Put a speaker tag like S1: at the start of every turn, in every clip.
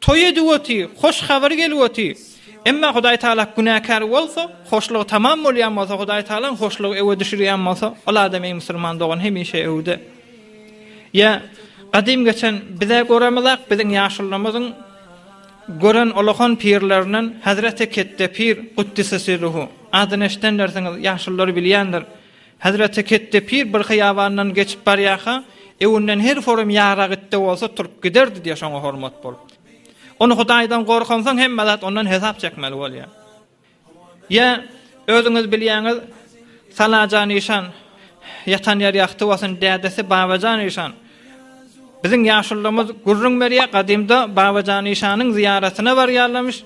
S1: Toý ediwoti, hoş habar geliwoti. Emma Hudaý Tagala günäkär bolsa, hoşlugy tamam bolýan bolsa, Hudaý Tagalaň hoşlugy öwe düşürýän bolsa, ol adam eý musulman dogan hemişe öwde. Ýa gadym geçen bizä göremizak biziň ýaşulymyzyň gören olakan pirlerinden Hazreti Ketdepir Guddisesiruhu adyny eşidenlersiňiz ýaşullar bilýändir. Hezreti Ketde pir bir hyýabandan geçip barýarka, öwünden her forum ýarag itde bolsa turup giderdi diýýär, şoňa hormat bolup. Ony Hudaýdan gorkansoň hemme zat ondan hesap çekmeli bolýar. Ýa özüňiz bilýäňiz, Salajan işan, ýatan ýeri ýagty bolsun, dädesi Babajan işan. Biziň ýaşulymyz gürrüň berýär, gadymda Babajan işanyň zyýaratyna barýarlarmyş.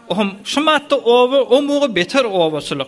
S1: Ohm, şu matda oba, o muga beter obaçylyk.